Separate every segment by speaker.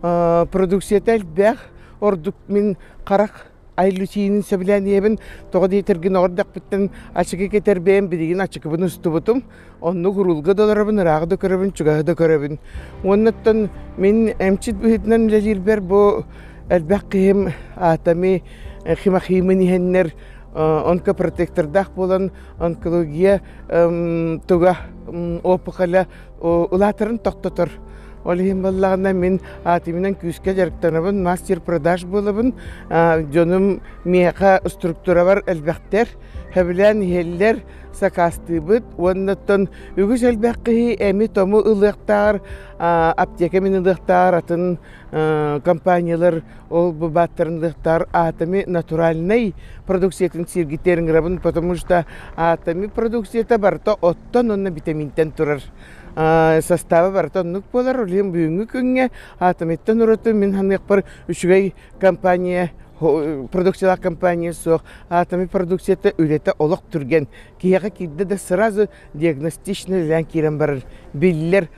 Speaker 1: Продукцията элбэх, ордук мин харах айлютиинин сөбүлээниэбин, тоҕо диэтэргин оҕордохпуттан ачыкы кэтэр бэйэм билигин ачыкыбын устубутум, оннук уруулга да олоробун, ыраах да көрөбүн, чугаһы да көрөбүн. Уонуттан мин эмчит быһыытынан үлэлиирбэр бу элбэх киһим аатами химахиимин иһэннэр онкопротектордаах буолан онкология туга опухоля Улаатарын тохтотор. Ол иһин буоллаҕына мин аатымынан күүскэ дьарыктанабын, мастер продаж буолабын. Дьонум миэхэ структурабар элбэхтэр, хэбилээн иһэллэр, сакаастыыбыт. Уоннаттан үгүс элбэх киһи эми-тому ылыахтааҕар, аптека мин ылыахтааҕар атын компаниялар ол бу бааттарынлыктар атоми натуральнай продукциятын сиргитэр ыңырабын потому что атоми продукцията барыта оттон онно витаминтен турар састава барыта оннук буолар улиым бүгүнгү күҥҥэ атомиттан ураты мин ханыахпар үчүгэй компания продукциялаах компания суох атоми продукцията үлэтэ олох түргэн киһиэхэ киирдэ да сразу диагностично үлэлээн киирэн барар биллэр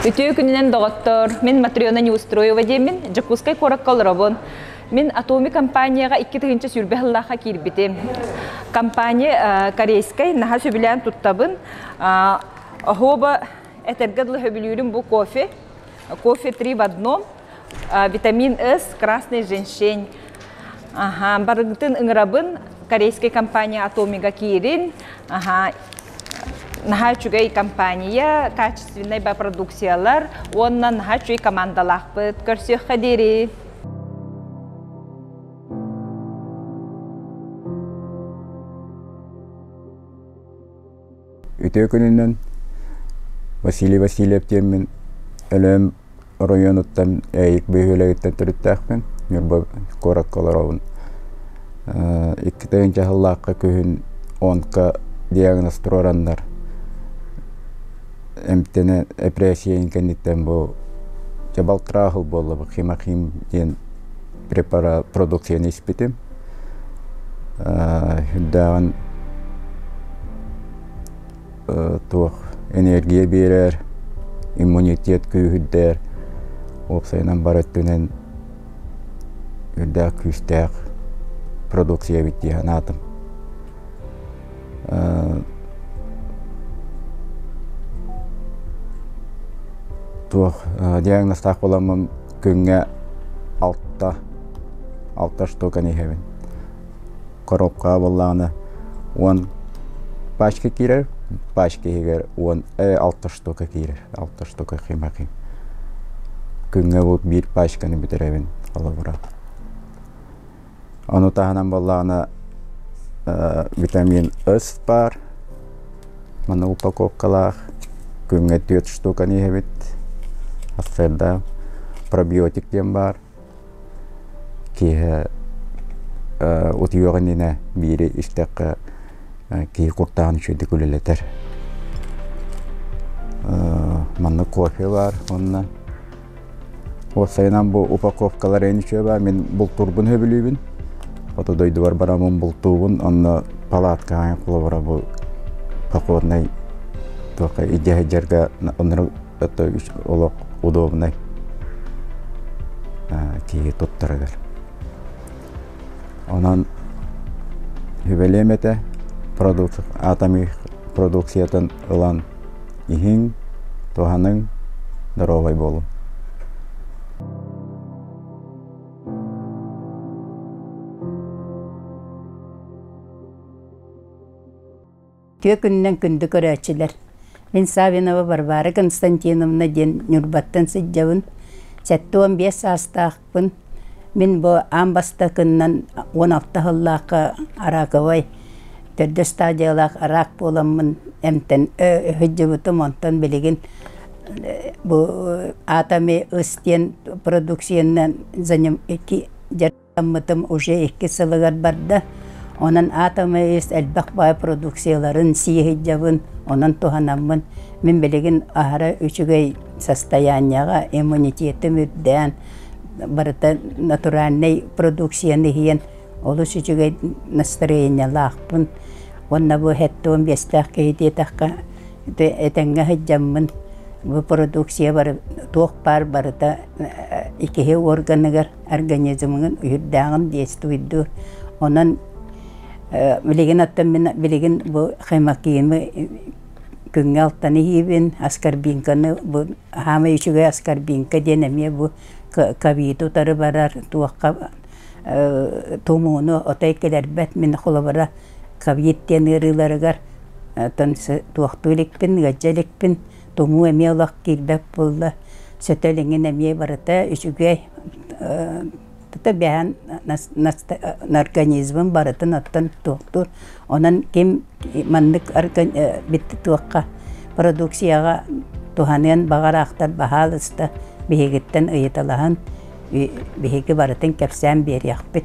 Speaker 1: Үтүө күнүнэн, доҕоттор! Мин Матрена Неустроева диэммин, Дьокуускай куоракка олоробун. Мин Атоми компанияҕа икки тыһыынча сүүрбэ сыллаахха киирбитим. Компания э, корейскай, наһаа сөбүлээн туттабын. Э, оһуоба этэргэ дылы сөбүлүүрүм бу кофе. Кофе три в одном, э, витамин С, красный женщень. Аха, барытын ыҥырабын. Корейскай компания Атомига киирин. Аха, наһаа үчүгэй компания, качественнай продукциялар уонна наһаа үчүгэй командалаахпыт көрсүөххэ диэри. Үтүө күнүнэн Василий Васильев диэммин Өлөөн оройуонуттан Ээйик бөһүөлэгиттэн төрүттээхпин Ньурба куоракка олоробун икки тыһыынча сыллаахха күһүн онко диагноз туруораннар эмтэнэ эпэрээссийэбин кэнниттэн бу чабалкраахыл буолла бу химахим диэн препарат продукцияны испитим үрдээҕин туох энергия биэрэр, иммунитет күүһүрдэр, уопсайынан бары өттүнэн үрдээх күүстээх продукция эбит дии санаатым. туох диагнозтаах буоламмын күҥҥэ алта алта штука иһэбин. коробка буоллаҕына уон пачка киирэр пачка иһигэр уон алта штука киирэр алта штука хима хим күҥҥэ бу биир пачканы бүтэрэбин холобура ону таһынан буоллаҕына витамин ыс баар мана упаковкалаах күҥҥэ түөрт штуканы иһэбит ацеда пробиотик диэн баар Киэһэ утуйуох иннинэ биири истэххэ киһи куртаан үчүгэйдик үлэлэтэр. Маннык кофе баар уонна уопсайынан бу упаковкалар эн үчүгэй баар мин бултуурбун сөбүлүүбүн. Хоту дойдубар бараммын бултуубун онно палатка аайы холобура бу покорнай туохха идэ сылдьарга это олох удобнай киһи туттара кэл онон сүбэлиэм этэ атомы продукциятын ылан иһиҥ туһаныҥ доруобай буолуҥ Тыа күнүнэн күндү көрөөччүлэр, мин Савинова Варвара Константиновна диэн Ньурбаттан сылдьабын. Сэттэ уон биэс саастаахпын. Мин бу аан бастакынан уон алта сыллаахха араковай төрдө стадиялаах араак буоламмын эмтэн сылдьыбытым, онтон билигин бу Атоми ыс диэн продукциянан Аммытым уже икки сылыгар барда. Онон атомный иис элбэх баай продукцияларын сиэһийдьэбин, онон туһанаммын. Мин билигин аһара үчүгэй состоянияҕа иммунитетым үрдээн, барыта натуральнай продукцияны иһиэн олус үчүгэй настроениялаахпын. Уонна бу хэттон биэстээх киһи диэтэххэ, этэҥҥэ сылдьаммын. Бу продукция бары, туох баар барыта икиһи органыгар организмгын үрдээҕин диэс туйду онон билигин оттон мин билигин бу хемокиимы күҥҥэ алтан иһиибин аскорбинканы бу хаамай үчүгэй аскорбинка диэн эмиэ бу ковиду утары барар туохха тумууну отой кэлэрбэт мин холобура ковид диэн ыарыыларыгар оттон туохтуу иликпин ыалдьа иликпин Тумуу эмиэ олох киирбэт буолла. Сөтө илиҥин эмиэ барыта үчүгэй тото бэйэһин организмын барытын оттон туохтуур. Онон ким маннык туохха продукцияҕа туһаныан баҕараахтар баһаалыста биһигиттэн ыйыталаһан биһиги барытын кэпсээн биэриэхпит.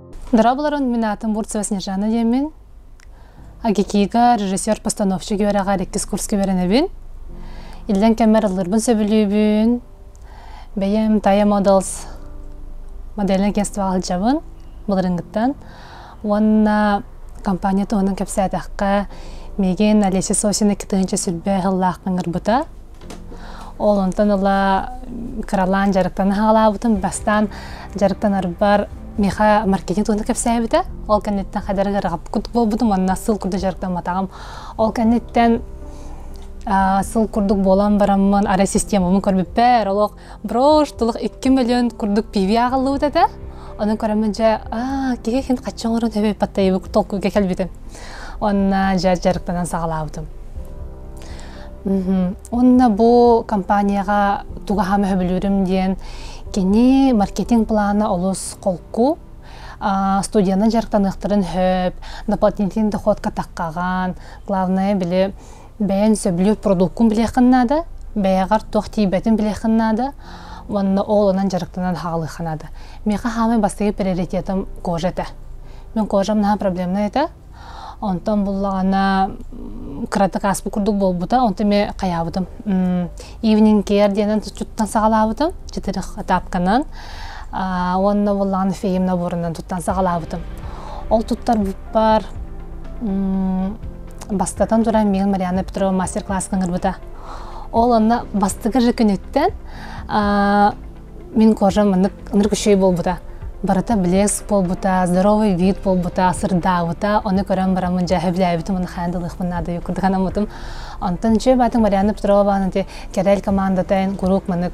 Speaker 1: Дырабыларын мин атын бурцева Снежана диэмин. Агикига режиссер-постановщик үөрэҕэ иккис курска үөрэнэбин. Иллен кэммэр аллырбын сөбүлүүбүн. Бэйэм Тая Models модельнай агентствоҕа сылдьабын былырынгыттан. Уонна компания туһунан кэпсээтэххэ, мигин Олеся Сосина икки тыһыынча сүрбэ сыллаах ыҥырбыта. Ол онтон ыла кыралаан дьарыктан хаалаабытым. Бастаан дьарыктанарбар Миха маркетинг туһунан кэпсээбитэ. Ол кэнниттэн хайдары ырааппыт буолбутум, онно сыл курдук дьарыктамматаҕым. Ол кэнниттэн сыл курдук буолан бараммын, арай системамын көрбүппэр, олох брош тулах икки мөлүөн курдук пиви ааҕыллыбыт этэ аны көрөммүн дьэ киһи хин хаччы оҥорон төбө паттайыбык толкуйга кэлбитим онна дьэ дьарыктанан саҕалаабытым онно бу компанияға тугаха мөһөбүлүүрүм диэн кини маркетинг плана олус холку студияны дьарыктаныахтарын хөп дополнительный доходка таққаған главное били бэйэн сөбүлүүр продуккун билиэххин наада бэйэҕэр туох тиийбэтин билиэххин наада уонна оҕолонон дьарыктанан хаалыахха наада миэхэ хаамай бастакы приоритетым кожа этэ мин кожам наһаа проблемнай этэ онтон буллаҕына кыратык ааспыт курдук буолбута онтон эмиэ хайаабытым evening care диэнэн туттан саҕалаабытым четырых этапканан уонна буллаҕына феем наборунан туттан саҕалаабытым ол туттарбыппар бастатан туран миигин Марианна Петрова мастер-класска ыҥырбыта ол онно бастакы же күнүттэн мин кожам маннык ынырык үчүгэй буолбута барыта блеск буолбута здоровый вид буолбута сырдаабыта ону көрөн бараммын дьэ сөбүлээбитим ону хаан дылыахпын наадаю курдук анаммытым онтон дьэ баатык Марианна Петрова баанын те кэрэл командата куруук маннык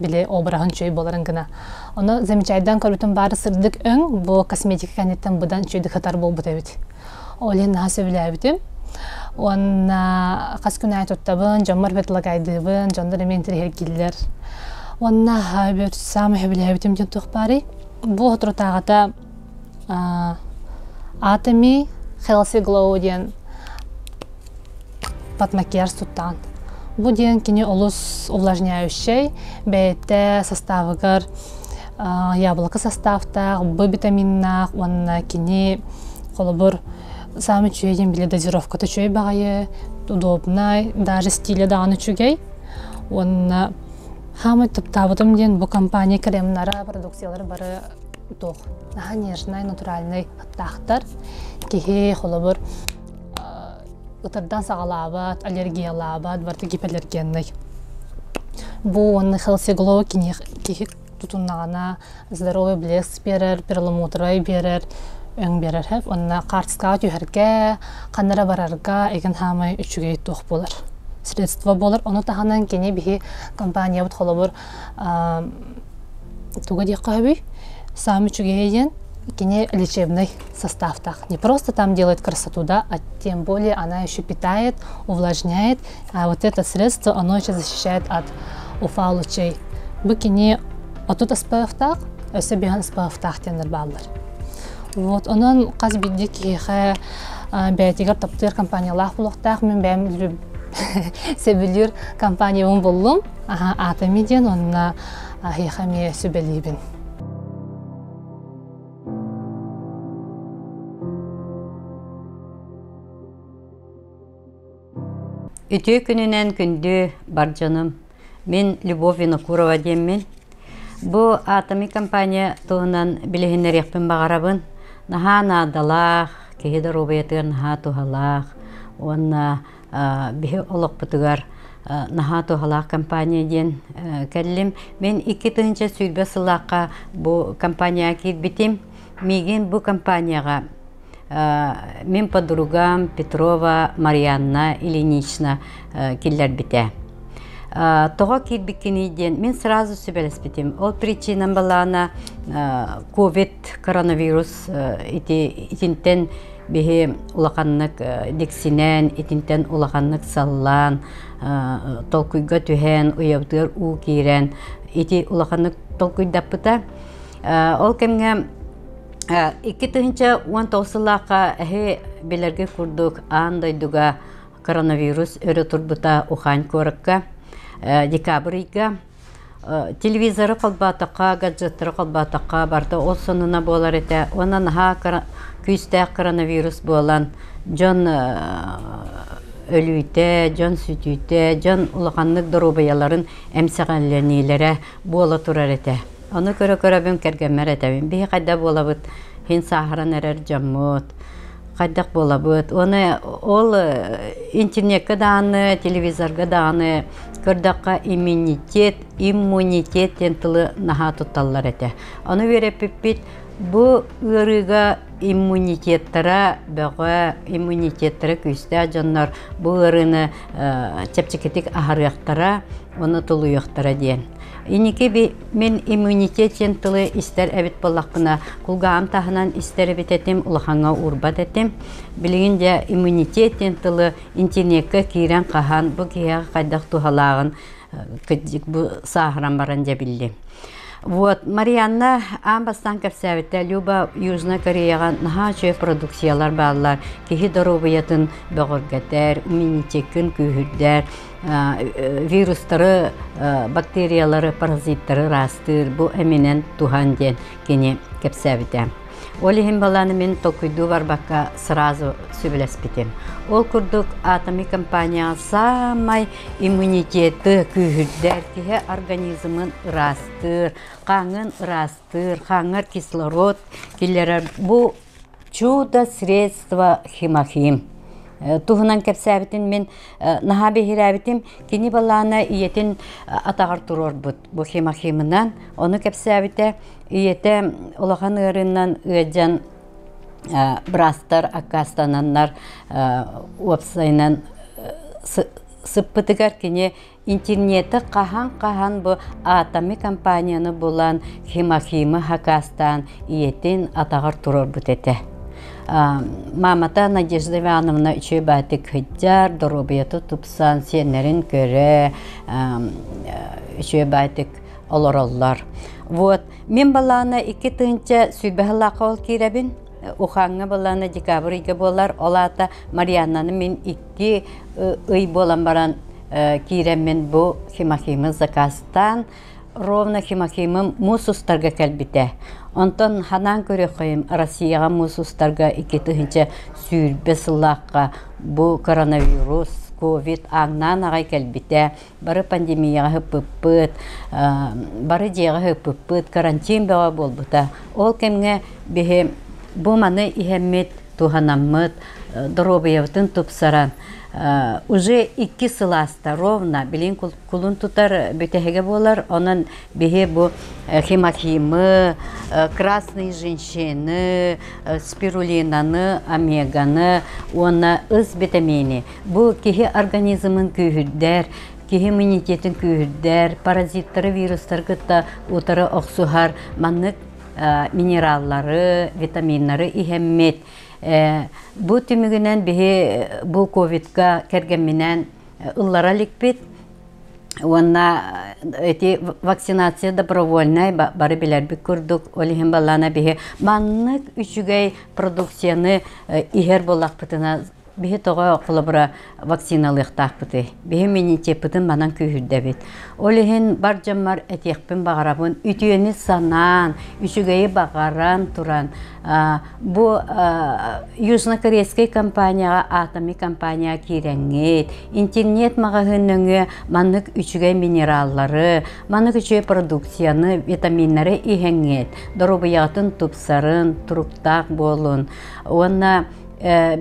Speaker 1: били обраһын чөй боларын гына ону замечайдан көрүтүм бары сырдык өң бу косметика кэнниттэн быдан чөйдү хатар буолбут эбит олин наһаа сөбүлээбитим уонна хас күн аай туттабын дьоммор бетлагайдыыбын дьоннор эмиэ интириһиргиллэр уонна бөт саамай сөбүлээбитим диэн туох баарый бу отурутааҕыта Атоми Хелси Глоу диэн подмакияж тутан. Бу диэн кини олус увлажняющай, бэйэтэ састаабыгар яблоко састааптаах, Б витаминнаах уонна кини холобур сам үчүгэй диэн били дозировката үчүгэй баҕайы, удобнай, даже стиля даҕаны үчүгэй. Уонна хаамай таптаабытым диэн бу компания кремнара, продукциялары бары туох наһаа нежнай натуральнай аптаахтар киһи холобур ытырдан саҕалаабат аллергиялаабат барыта гипоаллергеннай бу уонна холсеглоу киһи тутуннаҕына здоровый блеск биэрэр перламутровай биэрэр өҥ биэрэр хэп уонна картскаҕа түһэргэ ханна эрэ барарга эгин хаамай үчүгэй туох буолар средство буолар ону таһынан кини биһи компаниябыт холобур туга диэххэ сөбүй сам үчүгэйэ диэн кини лечебный состав-таах не просто там делает красоту да а тем более она еще питает увлажняет а вот это средство оно еще защищает от уфа лучей бу кини отут аспаевтаах өсө биһан аспаевтаах диэннэр бааллар вот онон хас бидди киһиэхэ бээтигэр таптыыр компаниялаах булуохтаах мен бэм Сөбүлүүр компаниябын буллум. Аата ми диэн уонна аһыаха эмиэ сүбэлиибин. Үтүө күнүнэн күндү бар дьонум! Мин Любовь Винокурова диэммин. Бу Атоми компания туһунан билиһиннэриэхпин баҕарабын. Наһаа наадалаах, киһи доруобуйатыгар наһаа туһалаах уонна биһи олохпутугар наһаа туһалаах компания диэн кэллим. Мин икки тыһыынча сүүрбэ сыллаахха бу компанияҕа киирбитим. Миигин бу компанияҕа Мин подругам Петрова Марианна Ильинична киллэрбитэ. Тоҕо киирбиккиний диэн мин сразу сүбэлэспитим. Ол причинам балаана ковид коронавирус ити итинтэн биһи улаханнык диксинэн, итинтэн улаханнык саллаан, толкуйга түһэн, уйабытыгар уу киирэн ити улаханнык толкуйдаппыта. Ол кэмҥэ Икки тыһыынча уон тоҕус сыллаахха эһи билэргэ курдук аан дойдуга коронавирус өрө турбута Ухань куоракка декабрь ыйга телевизору холбоотоххо, гаджеттары холбоотоххо барыта ол сонуна буолар этэ уонна наһаа күүстээх коронавирус буолан дьон өлүүтэ, дьон сүтүүтэ, дьон улаханнык доруобуйаларын эмсэҕэлэниилэрэ буола турар этэ. Ону көрө-көрөбүн кэргэммэр этэбин, биһи хайда буолабыт иһин сааһыран эрэр дьоммут, хайдах буолабыт. Уонна ол интернетке даҕаны, телевизорга даҕаны көрдөххө иммунитет, иммунитет диэн тылы наһаа тутталлар этэ. Ону үөрэппиппит бу ыарыыга иммунитеттара бөҕө, иммунитеттара күүстээх дьоннор бу ыарыыны чэпчэкитик аһарыахтара, уонна тулуйуохтара диэн. Инники мин иммунитет диэн тылы истэр эбит буоллахпына, кулгаҕым таһынан истэр эбит этим, улахаҥҥа уурбат этим. Билигин дьэ иммунитет диэн тылы интеллеккэ киирэн хаһан бу киһиэхэ хайдах туһалааҕын бу сааһыран баран дьэ биллим. Вот Марианна аан бастаан кэпсээбиттэ Люба Южная Кореяҕа наһаа үчүгэй продукциялар бааллар киһи доруобуйатын бөҕөргөтөр, иммунитеккын күүһүрдэр вирустары, бактериялары, паразиттары ыраастыыр бу эминэн туһан диэн кини кэпсээбитэ. Ол иһин балааны мин толкуйдуу барбакка сразу сөбүлэспитим. Ол курдук атоми компания саамай иммунитеты күүһүрдэр, киһи организмын ыраастыыр, хааңын ыраастыыр, хааңар кислород киллэрэр бу Чудо средство Химахим туһунан кэпсээбитин мин наһаа биһирээбитим. Кини балаана ийэтин атаҕар туруорбут бу Химахимынан. Ону кэпсээбитэ. Ийэтэ улахан ыарыынан ыалдьан браастар аккаастананнар уопсайынан сыппытыгар кини Интернеты хаһан-хаһан бу атоми компанияны булан Химахима хакаастаан ийэтин атаҕар турарбыт этэ. Маамата Надежда Ивановна үчүгэй баатык кыдьар, доруобуйата тупсан, сиэннэрин көрө, үчүгэй баатык олороллор. Вот, мен балаана икки тыынча сүбэһ лаахал киирэбин. Уханга балаана декабрьга буолар, ол аата Марианнаны мен Ити ый буолан баран киирэммин бу Химахимы закастаан, ровно Химахимым муус устарга кэлбитэ. Онтон ханаан көрүөххэйим Россияҕа муус устарга икки тыһынча сүүрбэ сыллаахха бу коронавирус, ковид ааҥнаан аҕай кэлбитэ. Бары пандемияҕа һыппыппыт, бары дьиэҕэ һыппыппыт, карантин бөҕө буолбута. Ол кэмҥэ биһи бу маны иһэммит туһанаммыт доруобуйабытын тупсаран уже икки сыласта ровно билин кулун тутар бүтэһигэ буолар онон биһи бу хематимы красные женщины спирулинаны омеганы уонна ыс витамини бу киһи организмын күүһүрдэр киһи иммунитетин күүһүрдэр паразиттары вирустары кытта утары охсуһар маннык минераллары, витаминнары иһэммит. Бу түмүгүнэн биһи бу ковидка кэргэмминэн ыллара иликпит уонна эти вакцинация добровольнай бары билэрбит курдук ол иһин баллана биһи маннык үчүгэй продукцияны иһэр булахпытына Биһи тоҕо холобура вакциналыахтаахпытый? Биһи меньшеппытын манан күүһүрдэбит. Ол иһин бар дьоммор этиэхпин баҕарабын, үтүөнү санаан, үчүгэйи баҕаран туран бу южнокорейскай компанияҕа атоми компанияҕа киирэҥҥит, интернет-маҕаһыын нөҥүө маннык үчүгэй минераллары, маннык үчүгэй продукцияны, витаминнары иһэҥҥит, доруобуйаҕытын тупсарын, туруктаах буолун уонна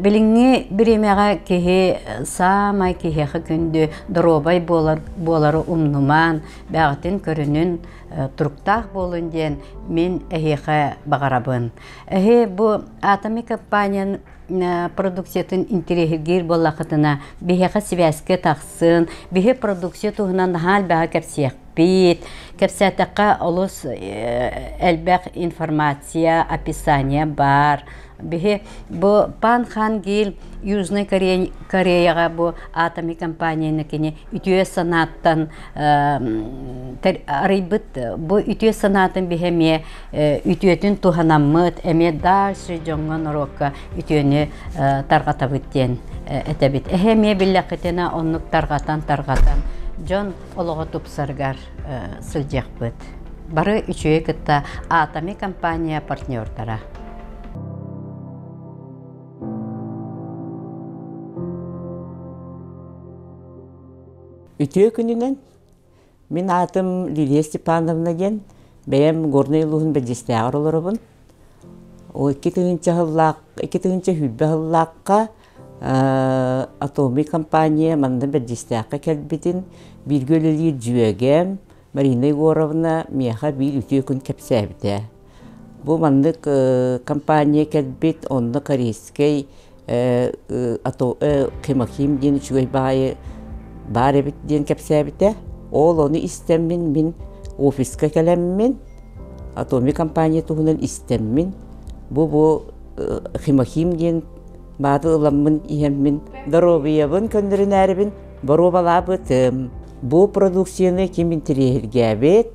Speaker 1: Билиҥҥи бириэмэҕэ киһи саамай киһиэхэ күндү доруобай буолан буолары умнумаан бэҕэтин көрүнүн туруктаах буолун диэн мин эһиэхэ баҕарабын. Эһи бу Атоми компания продукциятын интэриэһиргиир буоллахытына биһиэхэ сибээскэ тахсын биһи продукция туһунан наһаа элбэҕи кэпсиэхпит кэпсээтэххэ олус элбэх информация описание баар Биһи бу Пан-хан Гил Южной Кореяга бу атоми компанияны кини үтүө санааттан арыйбыт бу үтүө санаатын биһи эмиэ үтүөтүн туһанаммыт эмиэ дальше дьоҥҥо норуокка үтүөнү тарҕатабыт диэн этэбит. Эһэ эмиэ биллэххитинэ оннук тарҕатан тарҕатан дьон олоҕо тупсаргар сылдьыахпыт. Бары үчүгэй кытта Атоми компания партнердара. Үтүө күнүнэн мин аатым Лилия Степановна диэн бэйэм Горнай улууһун Бэдьэстээҕэр олоробун. Икки тыһыынча икки тыһыынча сүүрбэ Atoми компания манна Бэрдьистээххэ кэлбитин, бииргэ үлэлиир дьүөгэм Марина Егоровна миэхэ биир үтүө күн кэпсээбитэ. Бу маннык компания кэлбит, онно корейскай Кемаким диэн үчүгэй баайы баар эбит диэн кэпсээбитэ. Ол ону истэммин мин офиска кэлэммин, Atomy компания туһунан истэммин, бу бу Химахим диэн Баатыр ыламмын иһэммин, доруобуйабын көннөрүнээрибин боруобалаабытым. Бу продукцияны ким интэриэһиргээбит,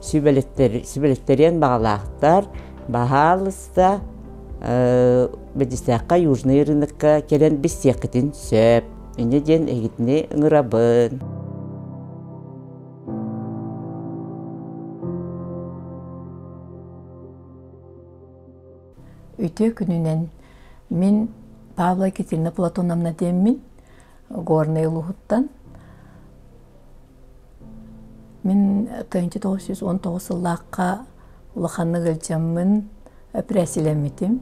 Speaker 1: сүбэлэстэриэн баҕалаахтар, баһаалыста, Бэдистээххэ Южный рынокка кэлэн билсиэххитин сөп. Инньэ диэн эһигитини ыҥырабын. Үтүө күнүнэн мин Павла Екатерина Платоновна диэммин Горнай улууһуттан мин тыһыынча тоҕус жүз он тоҕус сыллаахха улаханнык ыалдьаммын эпэрээссилэммитим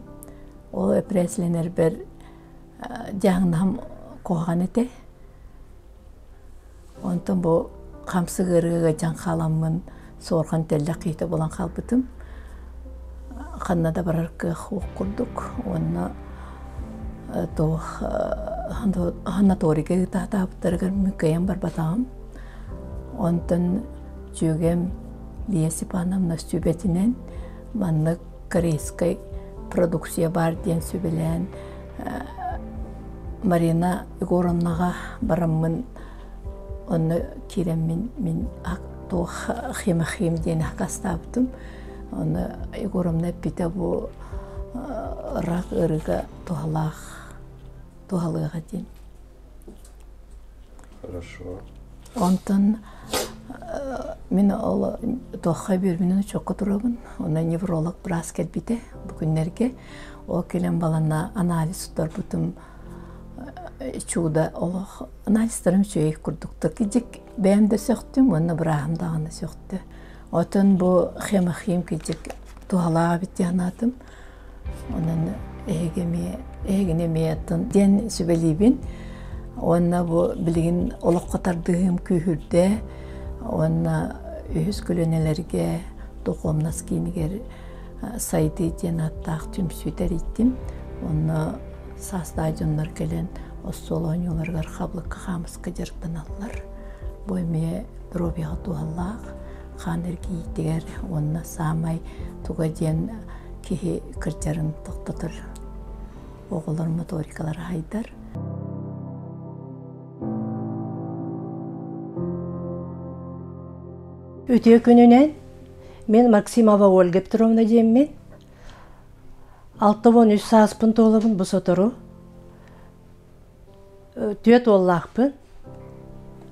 Speaker 1: ол эпэрээссилэнэрбэр дьаһаҥнаһым куһаҕан этэ Онтон бу хамсык ыарыыга дьаҥ хааламмын суорҕан тэллэх киһитэ булан хаалбытым. Ханна да барар кыах курдук уонна туох санаторийга ыытаатаабыттарыгар мүккэйэн барбатаҕым. Онтон дьүөгэм Лия Степановна сүбэтинэн маннык корейскай продукция баар диэн сүбэлээн Марина Егоровнаҕа бараммын онно киирэммин мин туох химахим диэн хакастаабытым онно Егоровна эппитэ бу ырак ырыга туһалаах туһалыаҕа диэн Онтон мин ол туохха үбүрүмүнэн очокко турабын. Онно невролог быраас кэлбитэ бу күннэргэ. Ол кэлэн балана анализ тутарбытым чудо олох анализтарым үчүгэй курдуктар. Кижик бэйэм да сөхтүм уонна бырааһым даҕаны сөхтө. Отон бу хемохим кижик туһалаах эбит диэн анаатым. Онон эһиги эмиэ эһигини эмиэ аттын диэн сүбэлиибин уонна бу билигин олоххо тардыһыым күүһүрдэ уонна үһүс көлүөнэлэргэ духуомнас киинигэр Сайдыы диэн ааттаах түмсүүтэ эрийдим. Онно саастаах дьоннор кэлэн остуол оонньууларыгар хабылыкка хаамыска дьарыктаналлар. Бу эмиэ доруобуйаҕа туһалаах. хаан эргийиитигэр уонна саамай туга диэн киһи кырдьарын тохтотор оҕолор моторикалара айдар үтүө күнүнэн мен максимова ольга петровна диэммин алта уон үс сааспын туолабын бу сотору Түөт уоллаахпын,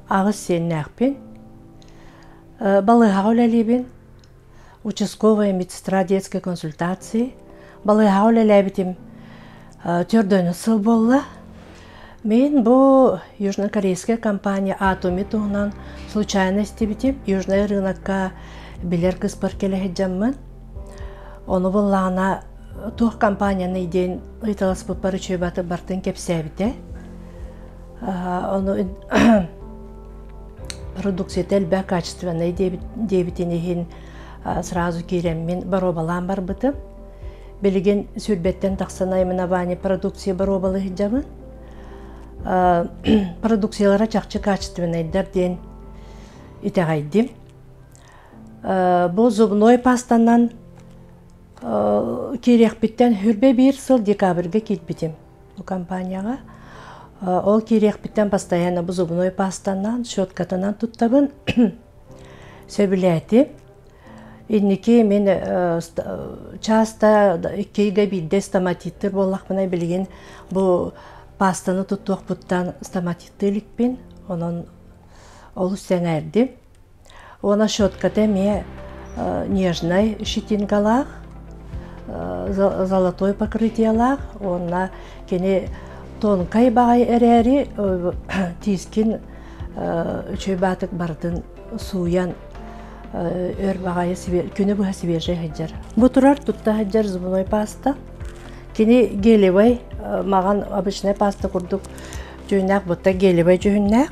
Speaker 1: аҕыс сиэннээхпин, балыыһаҕа үлэлиибин, участковая медсестра детской консультации. Балыыһаҕа үлэлээбитим төрдөнү сыл буолла. Мин бу южнокорейская компания Атуми туһунан случайно истибитим. Южный рынокка билэр кыспар кэлэ сылдьаммын Ону буллаана туох компанияны диэн ыйыталаспыппар учуйбаты бартын кэпсээбитэ. Ону продукцията элбэх качественный диэбитин иһин сразу киирэммин боруобалаан барбытым. Билигин сүүрбэттэн тахсан наименование продукции боруобалы сылдьабын. Продукциялара чахчы качественныйдар диэн итэҕэйдим. Бу зубной пастанан киириэхпиттэн хүрбэ биир сыл декабрьга киирбитим бу компанияҕа. Ол киириэхпиттэн постоянно бу зубной пастанан, щеткатынан туттабын, сөбүлээтим. Инники мин часто иккигэ биирдэ стоматиттыр буоллахпына билигин бу пастаны туттуохпуттан стоматитты иликпин, онон олус сэҥээрдим. Уона щетката эмиэ нежнай щетинкалаах, золотой покрытиелаах уонна кини тонкай баҕайы эрээри тиискин үчүгэй баатык барытын сууйан өр баҕайы күнү быһа свежай сылдьар. Бу турар тутта сылдьар зубной паста. Кини гелевай, маҕан обычнай паста курдук дьүһүннээх, бутта гелевай дьүһүннээх.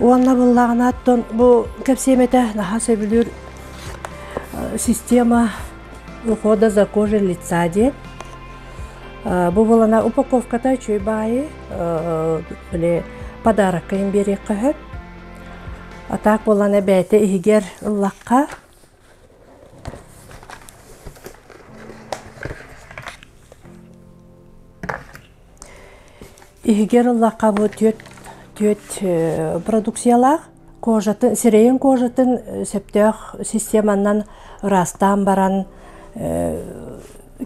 Speaker 1: Уонна быллаҕына оттон бу кэпсиэмэтэ наһаа сөбүлүүр система ухода за кожей лица диэн. Бу булана упаковката үчүгэй баайы подарокка им биэриэххэ сөп. А так булана бэйэтэ иһигэр ыллахха Иһигэр лакабы түөт түөт продукциялаах кожатын сирэйин кожатын сөптөөх системанан ыраастаан баран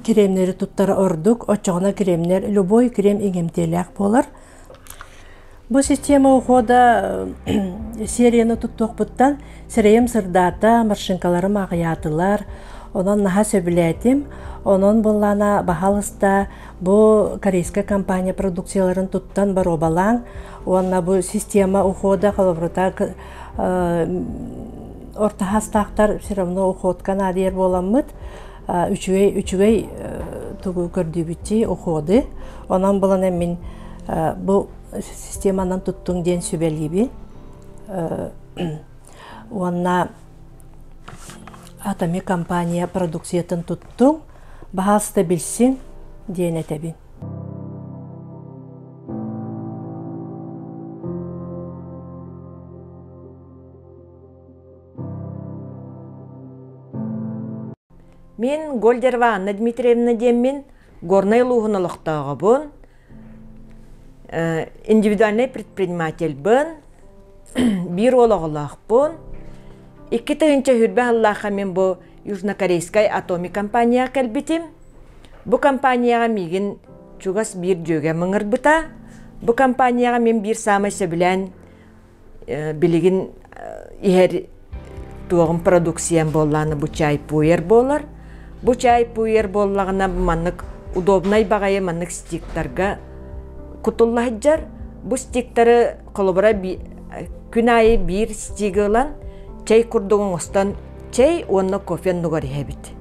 Speaker 1: кремнэри туттар ордук оччоҕуна кремнэр любой крем иҥэмтиэлээх буолар Бу система ухода серияны туттуохпуттан сирэйим сырдаата, маршинкаларым аҕыйаатылар. Онон наһаа сөбүлээтим. Онон буоллаана баһаалыста бу корейская компания продукцияларын туттан боруобалааҥ уонна бу система ухода холобурата орто саастаахтар все равно уходка наадыйар буоламмыт үчүгэй үчүгэй тугу көрдүүбүттии уходы онон булан эммин бу системанан туттуҥ диэн сүбэлиибин уонна атоми компания продукциятын туттуҥ баһаалыста билсин диэн этэбин Мин Гольдерова Анна Дмитриевна диэммин, Горнай улууһун олохтооҕобун, индивидуальнай предпринимательбын, биир уол оҕолоохпун, икки тыһыынча сүүрбэ сыллаахха мин бу Южнокорейскай Атоми компанияҕа кэлбитим. Бу компанияҕа миигин чугас биир дьүөгэм ыҥырбыта. Бу компанияҕа мин биир саамай сөбүлээн билигин иһэр туоҕум продукциям буоллаана бу чай пуер буолар бу чай пуер буоллаҕына маннык удобнай баҕайы маннык стиктарга кутулла сылдьар бу стиктары холобура күн аайы биир стиги ылан чай курдук оҥостон чай уонна кофе нугар иһэбит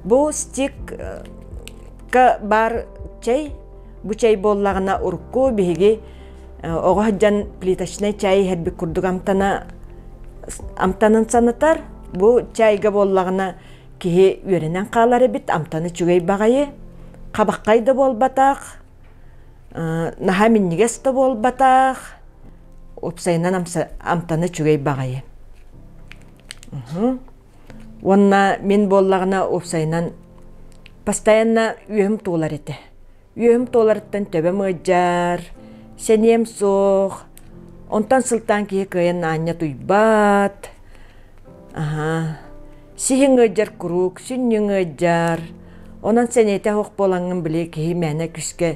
Speaker 1: бу стикка баар чай бу чай буоллаҕына урукку биһиги оҕо сылдьан плиточнай чай иһэрбит курдук амтана амтанын санатар бу чайга буоллаҕына киһи үөрэнэн хаалар эбит амтаны үчүгэй баҕайы хабаххай да буолбатах наһаа минньигэс да буолбатах уопсайынан амтана үчүгэй баҕайы уонна мин буоллаҕына уопсайынан постоянно үөһүм туолар этэ үөм туоларыттан төбөм ыадьар, сэниэм суох, онтон сылтаан киһи кыайан аанньа туйбат. Аһаа, сиһиҥ ыадьар куруук, сүнньүҥ ыадьар. Онон сэниэтэ суох буолаҥҥын били киһи мээнэ күүскэ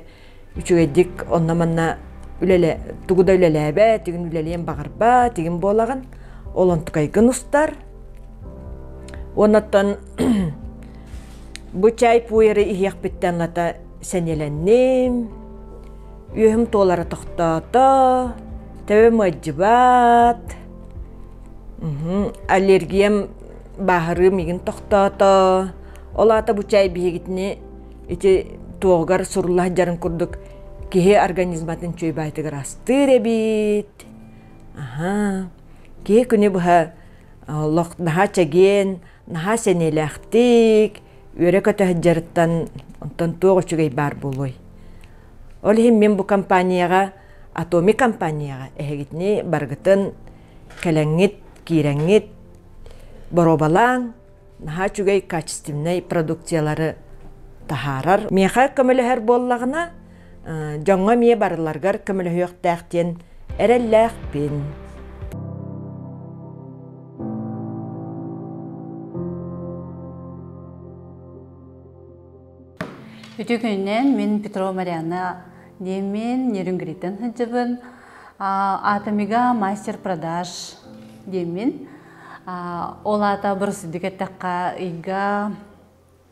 Speaker 1: үчүгэйдик онно-манна үлэлэ, тугу да үлэлээбэт, тигин үлэлиэн баҕарбат, тигин буолаҕын. Ол онтукайгын устар. Уонна оттон Бу чай пуйары иһиэхпиттэн ната сэниэлэнним, үөһүм туолара тохтоото, төбө мадьыбаат, аллергиям бааһырыы мигин тохтоото, ол аата бу чай биһигитини ити туоһугар сурулла сылдьарын курдук киһи организматын чуйбаайтыгар астыыр эбит, аһа, киһи күнү быһа олох наһаа чэгиэн наһаа сэниэлээхтик үөрэ-көтө сылдьарыттан онтон туох үчүгэй баар буолуой ол иһин мин бу компанияҕа атоми компанияҕа эһигитини барыгытын кэлэҥҥит киирэҥҥит боруобалаан наһаа үчүгэй качественнай продукциялары таһаарар миэхэ көмөлөһөр буоллаҕына дьоҥҥо эмиэ барыларыгар көмөлөһүөхтээх диэн эрэллээхпин. Үтү күннэн мин Петрова Марианна диэмин Нерюнгриттан сылдьыбын. Атомига мастер продаж диэмин. Ол аата бырсыдык эттэххэ ыйга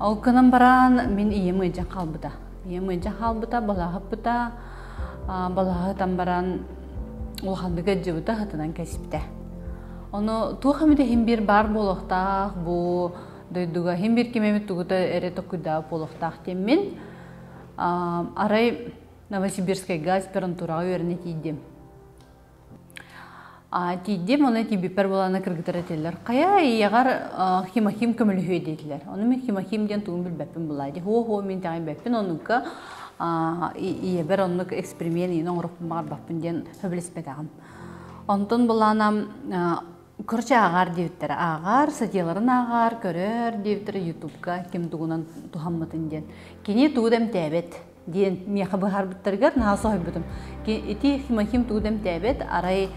Speaker 1: Ол гынан баран мин ийэм ыйдьа хаалбыта. Ийэм ыйдьа хаалбыта, балаһыппыта. Балаһытан баран улаханнык ыддьыбыта, хатанан кэсиптэ. Ону туох эмит иһин биир баар буолуохтаах бу дойдуга иһин биир ким эмит тугута эрэ токуйдаа буолуохтаах диэн мин арай Новосибирскайга аспирантураҕа үөрэнэ тиийдим. тиийдим оны тиийбиппэр буолана кыргыттар этилэр хайа ийэҕэр химахим көмөлөһүө диэтилэр ону мин химахим диэн тугун билбэппин былай дии хо хо мин тэҕэйбэппин оннукка ийэбэр оннук эксперимент иин оҥороппун баҕарбаппын диэн сөбүлэспэтэҕим онтон былаанам короче ааҕаар диэбиттэрэ ааҕаар сатьяларын ааҕаар көрөр диэбиттэрэ ютубка ким тугунан туһаммытын диэн кини тугу да эмтээбэт диэн миэхэ быһаарбыттарыгар наһаа соһуйбутум ити химохим тугу да эмтээбэт арай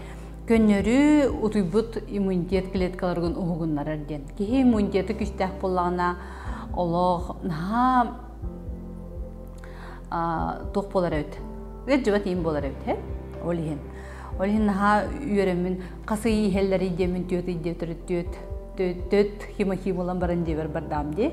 Speaker 1: көннөрү утуйбут иммунитет клеткаларгын уһугуннарар диэн киһи иммунитеты күүстээх буоллаҕына олох наһаа туох буолар эбит ыалдьыбат иин буолар эбит һэ ол иһин ол иһин наһаа үөрэммин хас ый иһэллэр идиэмин түөт идиэ төрүт түөт түөт химохи буолан баран диэбэр бардаам дии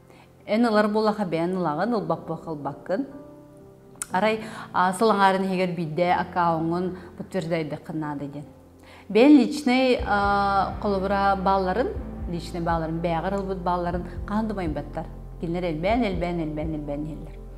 Speaker 1: Эн ылар булаха бэйэн ылаҕын, ылбаппыт-халбаккын. Арай сыл аҥарын иһигэр биирдэ аккаунтун подтверждайдыххын наада диэн. Бэйэн личнэй холобура баалларын, личнэй баалларын, бэйэҕэр ылбыт баалларын хаһан да майбаттар. Кинилэр элбээн, элбээн, элбээн, элбээн иһэллэр.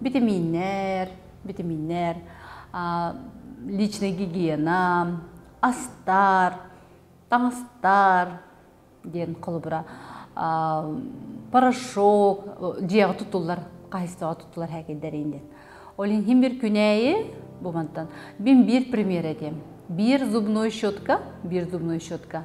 Speaker 1: Битэмииннэр, битэмииннэр, личная гигиена, астар, таҥастар диэн холобура порошок дьиэҕэ тутуллар хаһыйсаҕа тутуллар хэкэйдэрин диэн. Ол иһин бір күнәйи бумантан бим бір пример этем. Bir зубной щетка, bir зубной щетка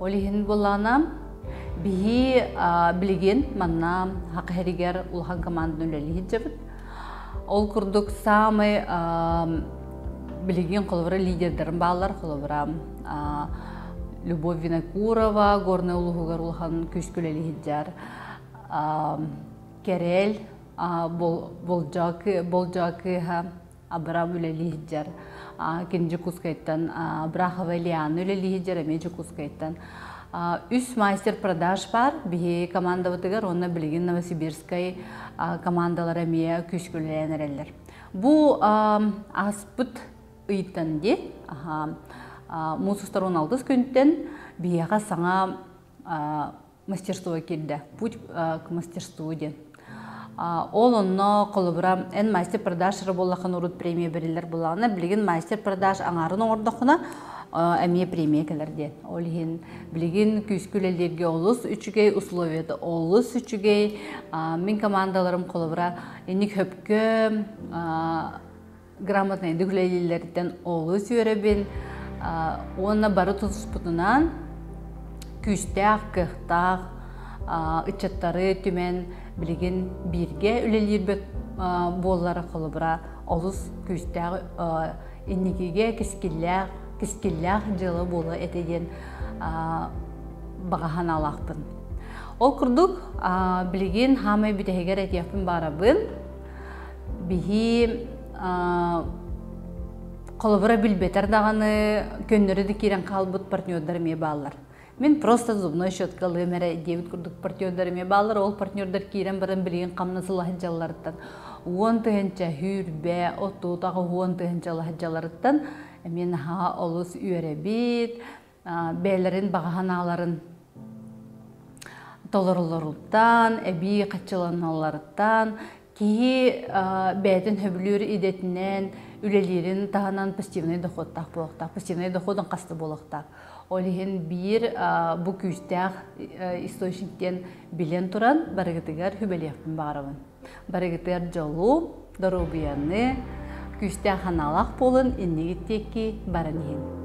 Speaker 1: Ол иһин булаанам биһи билигин манна хахэригер улахан команданы үлэлиһит жабыт. Ол курдук самый билигин холобура лидердерим бааллар, холобура Любовь Винокурова, Горный Улуһугар улахан күүскүлэлиһит жар. Кэрел Болжа кыыһа Абрав үлэлиһдьэр кини Дьокускайтан Абрахова Ильяна үлэлиһдьэр эми Дьокускайтан үс майстер продаж бар биһи командабытыгар уонна билигин Новосибирскай командалара эмиэ күүскүлээн эрэллэр бу аспыт ыйтан ди мусустарун алгыс күнтен биһиэхэ саҥа мастерство кирде путь к мастерству диэн ол онно холобура эн мастер продажера боллахан урут премия бериллер булаҕына билигин мастер продаж аңарын оҥордоххуна эмиэ премия кэлэр диэн ол иһин билигин күүскү үлэлииргэ олус үчүгэй условията олус үчүгэй мин командаларым холобура инник хөпкө грамотнай үлэлииллэриттэн олус үөрэбин уонна бары тутуспутунан күүстээх, кыахтаах ыччаттары түмэн билигин бииргэ үлэлиирбит буоллара холобура олус күүстээх инникигэ кискиллээх кискиллээх дьыала буола этэ диэн баҕаһан алаахпын. Ол курдук билигин хаамай бүтэһигэр этиэхпин баарабын. Бихи холобура билбетер даҕаны көннөрү да киирэн хаалбыт партнердар эмиэ бааллар. Мин просто зубной щеткалыам эрэ диэбит курдук партнердар эмиэ бааллар. Ол партнердар киирэн баран билигин хамна сылаһыдьалларыттан уон тыһынча хүрбэ, отут аҕа уон тыһынча лаһыдьаларыттан эмиэ наһаа олус үөрэбит, бэйэлэрин баҕа санааларын толоролоруттан, эбии хаччыланалларыттан киһи бэйэтин сөбүлүүр идэтинэн үлэлиирин таһынан пассивный дохуоттаах буолуохтаах, пассивный дохуотун хаста буолуохтаах. Ол иһин биир бу күүстээх источник диэн билэн туран барыгытыгар сүбэлиэхпин баҕарабын. Барыгытыгар дьолу, доруобуйаны, күүстээх аналах буолун иннигит диэки баран иһин.